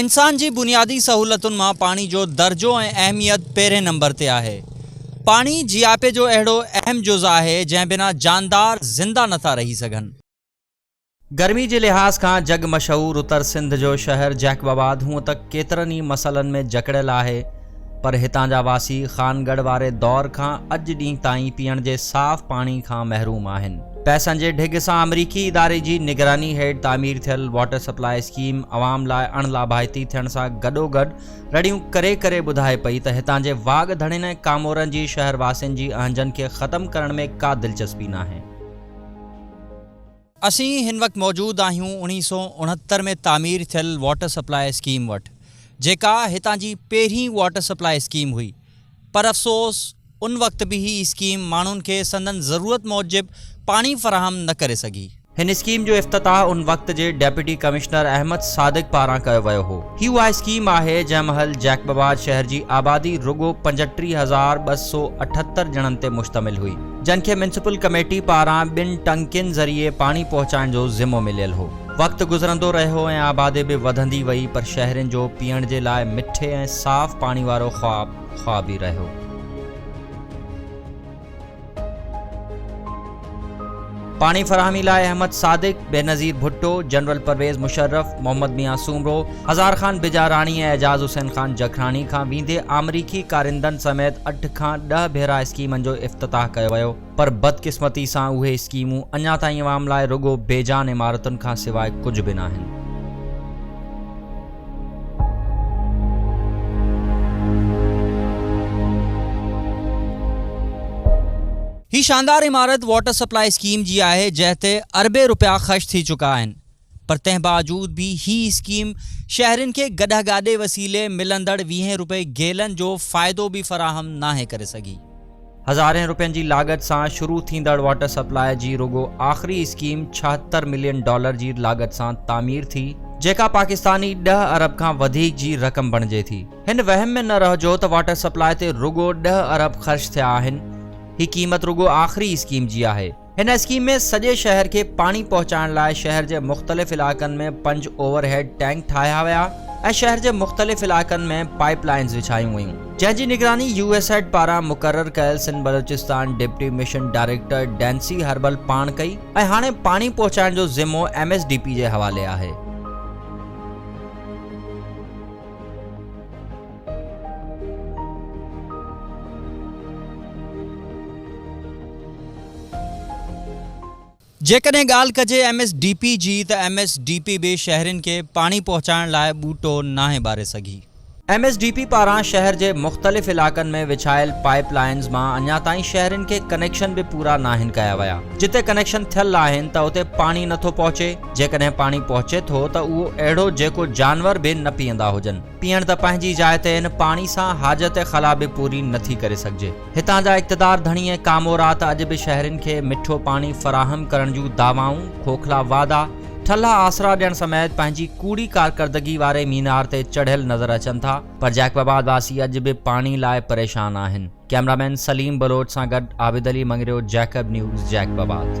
انسان جي بنيادي سهولتن مان پاڻي جو درجو ۽ اهميت پهرين نمبر تي آهي. پاڻي جياپي جو اهڙو اهم جز آهي جنهن بنا جاندار زنده نٿا رهي سگهن. گرمي جي لحاظ کان جڳ مشهور اتر سنڌ جو شهر جيڪب آباد هونء ته ڪيترن ئي مسئلن ۾ جڪڙيل آهي، پر هتان جا واسي خان ڳڙهه واري دور کان اڄ ڏينهن تائين پيئڻ جي صاف پاڻي کان محروم آهن. پئسن جي ڍڳ سان آمريڪي اداري جي نگراني هيٺ تعمير ٿيل واٽر سپلاء اسڪيم عوام لاء اڻ لاڀائتي ٿيڻ سان گڏوگڏ رڙيون ڪري ڪري ٻڌائي پئي ته هتان جي واڳ ڌڻين ۽ ڪامورن جي شهر واسين جي اهنجن کي ختم ڪرڻ ۾ ڪا دلچسپي ناهي. اسين هن وقت موجود آهيون اڻيهه سؤ اڻهتر ۾ تعمير ٿيل واٽر سپلاء اسڪيم وٽ، جيڪا هتان جي پهرين واٽر سپلاء اسڪيم هئي. پر افسوس ان وقت به هي اسڪيم ماڻهن کي سندن ضرورت موجب پاڻي فراهم نه ڪري سگهي. هن اسڪيم جو افتتاح ان وقت جي ڊيپٽي ڪمشنر احمد صادق پاران ڪيو ويو هو. هي اها اسڪيم آهي جنهن مهل جيڪب آباد شهر جي آبادي رڳو پنجٽيهه هزار ٻه سؤ اٺهتر ڄڻن تي مشتمل هئي. جن کي ميونسپل ڪميٽي پاران ٻن ٽنڪين ذريعي پاڻي پهچائڻ جو ذمو مليل هو. وقت گذرندو رهيو ۽ آبادي به وڌندي وئي پر شهرين جو پيئڻ جي لاء مٺي ۽ صاف پاڻي وارو خواب خواب ئي رهيو. پاڻي فراهمي لاء احمد صادق، بينظير ڀٽو، جنرل پرويز مشرف، محمد ميان سومرو، هزار خان بجاراڻي ۽ اعجاز حسين خان جکراڻي کان ويندي آمريڪي ڪارندن سميت اٺ کان ڏهه ڀيرا اسڪيمن جو افتتاح ڪيو ويو پر بدقسمتي سان اهي اسڪيمون اڃا تائين عوام لاء رڳو بي جان عمارتن کان سواء ڪجهه به ناهن. هي شاندار عمارت واٽر سپلائي اسڪيم جي آهي جنهن تي اربين رپيا خرچ ٿي چڪا آهن پر تنهن باوجود به هي اسڪيم شهرين کي گڏهه گاڏي وسيلي ملندڙ ويهين رپئي گيلن جو فائدو به فراهم ناهي ڪري سگهي. هزارين رپين جي لاڳت سان شروع ٿيندڙ واٽر سپلاء جي رڳو آخري اسڪيم ڇاهتر ملين ڊالر جي لاڳت سان تعمير ٿي جيڪا پاڪستاني ڏهه ارب کان وڌيڪ جي رقم بڻجي ٿي. هن وهم ۾ نه رهجو ته واٽر سپلاء تي رڳو ڏهه ارب خرچ ٿيا آهن، هي قيمت رڳو آخري اسڪيم جي آهي. هن اسڪيم ۾ سڄي شهر کي پاڻي پهچائڻ لاء شهر جي مختلف علائقن ۾ پنج اوور هيڊ ٽينڪ ٺاهيا ويا ۽ شهر جي مختلف علائقن ۾ پائيپ لائينز وڇايون ويون، جنهن جي نگراني يو ايس ايڊ پاران مقرر ڪيل Sindh Balochistan deputy mission director ڊينسي هربل پاڻ ڪئي ۽ هاڻي پاڻي پهچائڻ جو ذمو ايم ايس ڊي پي جي حوالي آهي. جيڪڏهن ڳالهه ڪجي ايم ايس ڊي پي جي ته ايم ايس ڊي پي به شهرين کي پاڻي پهچائڻ لاء ٻوٽو ناهي ٻاري سگهي. ايم ايس ڊي پي پاران شهر جي مختلف علائقن ۾ وڇايل پائيپ لائينز مان اڃا تائين شهرين کي ڪنيڪشن به پورا ناهن ڪيا ويا، جتي ڪنيڪشن ٿيل آهن ته اتي پاڻي نٿو پهچي، جيڪڏهن پاڻي پهچي ٿو ته اهو اهڙو جيڪو جانور به نه پيئندا هجن. پيئڻ ته پنهنجي جاء تي ان پاڻي سان حاجت خلا به پوري نه ٿي ڪري سگهجي. هتان جا اقتدار ڌڻي ۽ ڪامورا ته اڄ به شهرين کي مٺو پاڻي فراهم ڪرڻ جون دعوائون، کوکلا وعدا، ٺلها آسرا ڏيڻ سميت پنهنجي ڪوڙي ڪارڪردگي واري مينار تي چڙهيل نظر اچن ٿا پر جيڪب آباد واسي اڄ به پاڻي لاء پريشان آهن. ڪيمرا مين سليم بلوچ سان گڏ Abid Ali Mangrio Jacob news Jacob آباد.